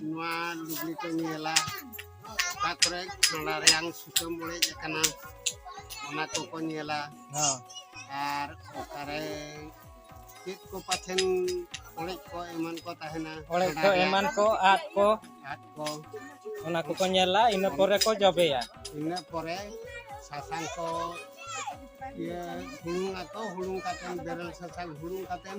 ᱱᱚᱣᱟ ᱞᱩᱜᱽᱲᱤ ᱠᱚ ᱧᱮᱞᱟ ᱚᱠᱟ ᱠᱚᱨᱮ ᱠᱷᱟᱸᱰᱟ ᱨᱮᱭᱟᱝ ᱥᱩᱛᱟᱹᱢ ᱚᱲᱮᱡ ᱟᱠᱟᱱᱟ ᱚᱱᱟ ᱠᱚᱠᱚ ᱧᱮᱞᱟ ᱦᱮᱸ ᱟᱨ ᱚᱠᱟᱨᱮ ᱪᱮᱫ ᱠᱚ ᱯᱟᱪᱷᱮᱱ ᱚᱲᱮᱡ ᱠᱚ ᱮᱢᱟᱱ ᱠᱚ ᱛᱟᱦᱮᱱᱟ ᱚᱲᱮᱡ ᱠᱷᱟᱸᱰᱟ ᱠᱚ ᱨᱮᱭᱟᱝ ᱮᱢᱟᱱ ᱠᱚ ᱟᱫ ᱠᱚ ᱟᱫ ᱠᱚ ᱚᱱᱟ ᱠᱚᱠᱚ ᱧᱮᱞᱟ ᱤᱱᱟᱹ ᱯᱚᱨᱮ ᱠᱚ ᱡᱚᱵᱮᱭᱟ ᱤᱱᱟᱹ ᱯᱚᱨᱮ ᱥᱟᱥᱟᱝ ᱠᱚ ᱤᱭᱟᱹ ᱦᱩᱲᱩᱝ ᱟᱠᱚ ᱦᱩᱲᱩᱝ ᱠᱟᱛᱮᱫ ᱵᱮᱨᱮᱞ ᱥᱟᱥᱟᱝ ᱦᱩᱲᱩᱝ ᱠᱟᱛᱮᱫ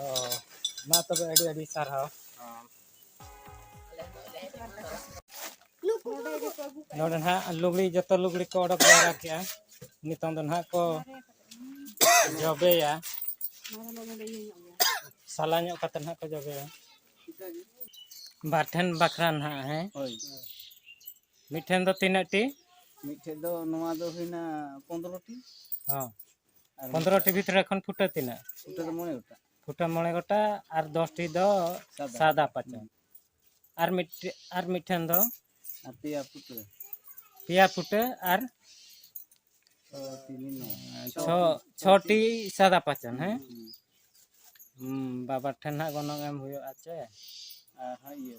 Oh, ma to ba adi adi sarhaw. ᱱᱚᱰᱮ ᱱᱟᱦᱟᱜ ᱞᱩᱜᱽᱲᱤ ᱡᱚᱛᱚ ᱞᱩᱜᱽᱲᱤ ᱠᱚ ᱚᱰᱚᱠ ᱡᱟᱣᱨᱟ ᱠᱮᱜᱼᱟ ᱱᱤᱛᱚᱝ ᱫᱚ ᱱᱟᱦᱟᱜ ᱠᱚ ᱡᱚᱵᱮᱭᱟ ᱥᱟᱞᱟ ᱧᱚᱜ ᱠᱟᱛᱮ ᱱᱟᱦᱟᱜ ᱠᱚ ᱡᱚᱵᱮᱭᱟ ᱵᱟᱨ ᱴᱷᱮᱱ ᱵᱟᱠᱷᱨᱟ ᱱᱟᱦᱟᱜ ᱦᱮᱸ ᱦᱳᱭ ᱢᱤᱫᱴᱷᱮᱱ ᱫᱚ ᱛᱤᱱᱟᱹᱜ ᱴᱤ ᱢᱤᱫᱴᱷᱮᱱ ᱫᱚ ᱱᱚᱣᱟ ᱫᱚ ᱦᱩᱭᱱᱟ ᱯᱚᱱᱨᱚ ᱴᱤ ᱦᱚᱸ ᱯᱚᱱᱫᱨᱚᱴᱤ ᱵᱷᱤᱛᱨᱤ ᱨᱮ ᱠᱷᱚᱱ ᱯᱷᱩᱴᱟᱹ ᱛᱤᱱᱟᱹᱜ ᱯᱷᱩᱴᱟᱹ ᱫᱚ ᱢᱚᱬᱮ ᱜᱚᱴᱟᱝ ᱯᱷᱩᱴᱟᱹ ᱢᱚᱬᱮ ᱜᱚᱴᱟᱝ ᱟᱨ ᱫᱚᱥᱴᱤ ᱫᱚ ᱥᱟᱫᱟ ᱯᱟᱪᱚ ᱟᱨ ᱢᱤᱫ ᱟᱨ ᱢᱤᱫᱴᱷᱮᱱ ᱫᱚ ᱟᱨ ᱯᱮᱭᱟ ᱯᱷᱩᱴᱟᱹ ᱯᱮᱭᱟ ᱯᱷᱩᱴᱟᱹ ᱟᱨ ᱪᱷᱚ ᱪᱷᱚᱴᱤ ᱥᱟᱫᱟ ᱯᱟᱪᱚᱱ ᱦᱮᱸ ᱵᱟᱵᱟ ᱴᱷᱮᱱ ᱦᱟᱸᱜ ᱜᱚᱱᱚᱝ ᱮᱢ ᱦᱩᱭᱩᱜᱼᱟ ᱪᱮ ᱟᱨ ᱦᱟᱸᱜ ᱤᱭᱟᱹ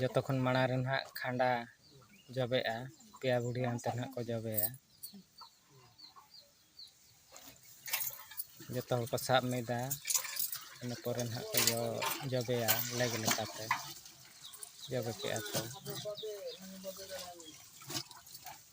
ᱡᱚᱛᱚ ᱠᱷᱚᱱ ᱢᱟᱲᱟᱝ ᱨᱮ ᱱᱟᱦᱟᱜ ᱠᱷᱟᱸᱰᱟ ᱡᱚᱵᱮᱜᱼᱟ ᱯᱮᱭᱟ ᱵᱩᱰᱷᱤ ᱦᱟᱱᱛᱮ ᱱᱟᱦᱟᱜ ᱠᱚ ᱡᱚᱵᱮᱭᱟ ᱡᱚᱛᱚ ᱦᱚᱲ ᱠᱚ ᱥᱟᱵ ᱢᱤᱫᱟ ᱤᱱᱟᱹ ᱯᱚᱨᱮ ᱱᱟᱦᱟᱜ ᱠᱚ ᱡᱚᱵᱮᱭᱟ ᱞᱮᱠ ᱞᱮᱠᱟᱛᱮ ᱡᱚᱵᱮ ᱠᱮᱜᱼᱟ ᱠᱚ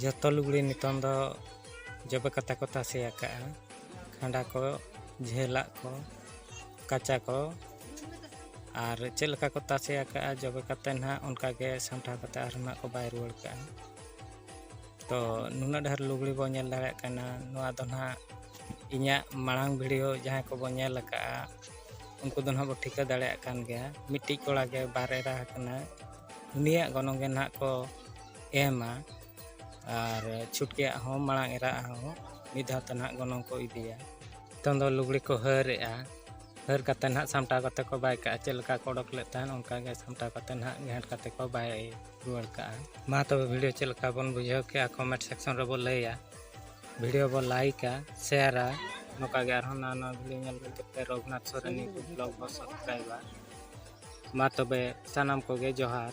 ᱡᱚᱛᱚ ᱞᱩᱜᱽᱲᱤ ᱱᱤᱛᱚᱝ ᱫᱚ ᱡᱚᱵᱮ ᱠᱟᱛᱮ ᱠᱚ ᱛᱟᱥᱮ ᱟᱠᱟᱫᱼᱟ ᱠᱷᱟᱸᱰᱟ ᱠᱚ ᱡᱷᱟᱹᱞᱟᱜ ᱠᱚ ᱠᱟᱪᱟ ᱠᱚ ᱟᱨ ᱪᱮᱫ ᱞᱮᱠᱟ ᱠᱚ ᱛᱟᱥᱮ ᱟᱠᱟᱫᱼᱟ ᱡᱚᱵᱮ ᱠᱟᱛᱮ ᱱᱟᱦᱟᱜ ᱚᱱᱠᱟᱜᱮ ᱥᱟᱢᱴᱟᱣ ᱠᱟᱛᱮ ᱟᱨᱦᱚᱸ ᱱᱟᱦᱟᱜ ᱠᱚ ᱵᱟᱭ ᱨᱩᱣᱟᱹᱲ ᱠᱟᱜᱼᱟ ᱛᱚ ᱱᱩᱱᱟᱹᱜ ᱰᱷᱮᱨ ᱞᱩᱜᱽᱲᱤ ᱵᱚ ᱧᱮᱞ ᱫᱟᱲᱮᱭᱟᱜ ᱠᱟᱱᱟ ᱱᱚᱣᱟ ᱫᱚ ᱱᱟᱦᱟᱜ ᱤᱧᱟᱹᱜ ᱢᱟᱲᱟᱝ ᱵᱷᱤᱰᱤᱭᱳ ᱡᱟᱦᱟᱸᱭ ᱠᱚᱵᱚ ᱧᱮᱞ ᱟᱠᱟᱫᱼᱟ ᱩᱱᱠᱩ ᱫᱚ ᱱᱟᱦᱟᱜ ᱵᱚ ᱴᱷᱤᱠᱟᱹ ᱫᱟᱲᱮᱭᱟᱜ ᱠᱟᱱ ᱜᱮᱭᱟ ᱢᱤᱫᱴᱤᱡ ᱠᱚᱲᱟ ᱜᱮ ᱵᱟᱨ ᱮᱨᱟ ᱟᱠᱟᱱᱟ ᱩᱱᱤᱭᱟᱜ ᱜᱚᱱᱚᱝ ᱜᱮ ᱱᱟᱦᱟᱜ ᱠᱚ ᱮᱢᱟ ᱟᱨ ᱪᱷᱩᱴᱠᱤᱭᱟᱜ ᱦᱚᱸ ᱢᱟᱲᱟᱝ ᱮᱨᱟ ᱦᱚᱸ ᱢᱤᱫ ᱫᱷᱟᱣ ᱛᱮ ᱱᱟᱦᱟᱜ ᱜᱚᱱᱚᱝ ᱠᱚ ᱤᱫᱤᱭᱟ ᱱᱤᱛᱚᱝ ᱫᱚ ᱞᱩᱜᱽᱲᱤ ᱠᱚ ᱦᱟᱹᱨᱮᱜᱼᱟ ᱦᱟᱹᱨ ᱠᱟᱛᱮ ᱱᱟᱦᱟᱜ ᱥᱟᱢᱴᱟᱣ ᱠᱟᱛᱮ ᱠᱚ ᱵᱟᱭ ᱠᱟᱜᱼᱟ ᱪᱮᱫ ᱞᱮᱠᱟ ᱠᱚ ᱚᱰᱚᱠ ᱞᱮᱫ ᱛᱟᱦᱮᱸᱫ ᱚᱱᱠᱟ ᱜᱮ ᱥᱟᱢᱴᱟᱣ ᱠᱟᱛᱮ ᱱᱟᱦᱟᱜ ᱜᱷᱮᱸᱴ ᱠᱟᱛᱮ ᱠᱚ ᱵᱟᱭ ᱨᱩᱣᱟᱹᱲ ᱠᱟᱜᱼᱟ ᱢᱟ ᱛᱚᱵᱮ ᱵᱷᱤᱰᱤᱭᱳ ᱪᱮᱫ ᱞᱮᱠᱟ ᱵᱚᱱ ᱵᱩᱡᱷᱟᱹᱣ ᱠᱮᱜᱼᱟ ᱠᱚᱢᱮᱱᱴ ᱥᱮᱠᱥᱚᱱ ᱨᱮᱵᱚ ᱞᱟᱹᱭᱟ ᱵᱷᱤᱰᱤᱭᱳ ᱵᱚ ᱞᱟᱭᱤᱠᱟ ᱥᱮᱭᱟᱨᱟ ᱱᱚᱝᱠᱟ ᱜᱮ ᱟᱨᱦᱚᱸ ᱱᱟᱣᱟ ᱱᱟᱣᱟ ᱵᱷᱤᱰᱤᱭᱳ ᱧᱮᱞ ᱞᱟᱹᱜᱤᱫ ᱛᱮ ᱨᱚᱜᱷᱩᱱᱟᱛᱷ ᱥᱚᱨᱮᱱ ᱵᱞᱚᱜ ᱵᱚ ᱥᱟᱵᱥᱠᱨᱟᱭᱤᱵᱟ ᱢᱟ ᱛᱚᱵᱮ ᱥᱟᱱᱟᱢ ᱠᱚᱜᱮ ᱡᱚᱦᱟᱨ